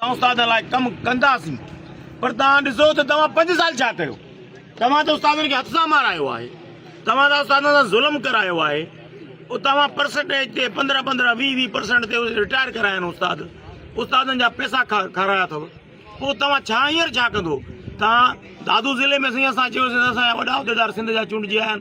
توهان استادن لاء ڪم ڪنداسين پر توهان ڏسو ته توهان پنج سال ڇا ڪيو؟ توهان ته استادن کي هٿ سان مارايو آهي، توهان ته استادن سان ظلم ڪرايو آهي، توهان پرسنٽيج تي پندرهن پندرهن ويهه ويهه پرسنٽ تي رٽائر ڪرايا آهن استاد، استادن جا پئسا کارايا اٿو، پوء توهان ڇا هينئر ڇا ڪندو؟ توهان دادو ضلعي ۾ سائين اسان چيوسين ته اسان جا وڏا عهديدار سنڌ جا چونڊجي آيا آهن.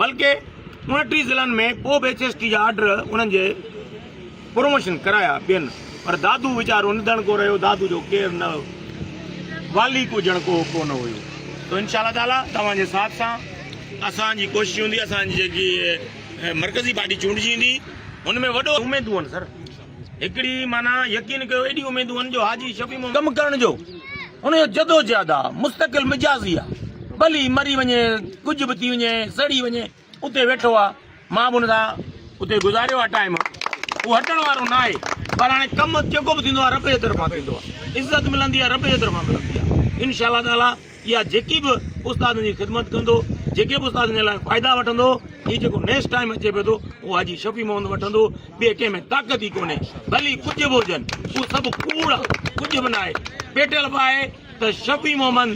بلڪه اڻٽيهه ضلعن ۾ ڪو به ايڇ ايس ٽي جا آرڊر انهن جي پروموشن ڪرايا ٻين پر دادو ويچارو نڌڻڪو رهيو دادو جو ڪير نه والي ڪو ڄڻ ڪو ڪو نه هيو تو انشاء الله تعالي توهان جي ساٿ سان اسان جي ڪوشش هوندي اسان جي جيڪي مرڪزي پارٽي چونڊجي ايندي ان ۾ وڏو اميدون سر هڪڙي معنيٰ يقين ڪيو ايڏيون اميدون هن جو حاجي شفيع محمد ڪم ڪرڻ جو ان جو جدوجهد آ مستقل مجازي آ ڀلي مري وڃي ڪجهه به ٿي وڃي سڙي وڃي اتي ويٺو آ مان به ان سان اتي گذاريو آ ٽائيم هو هٽڻ وارو ناهي پر هاڻي ڪم جيڪو به ٿيندو آ رب جي طرفان ٿيندو آ عزت ملندي آ رب جي طرفان ملندي آ انشاء الله تعالٰي يا جيڪي به استادن جي خدمت ڪندو جيڪي به استادن جي لاء فائدا وٺندو هي جيڪو نيڪسٽ ٽائيم اچي پيو ٿو اهو حاجي شفيع محمد وٺندو ٻي ڪنهن ۾ طاقت ئي ڪونهي ڀلي ڪجهه به هجن اهو سڀ ڪوڙ ڪجهه به ناهي پيٽل به آهي ته شفيع محمد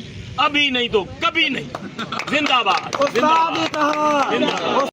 ابي نئي تو ڪبي نئي زنده باد زنده باد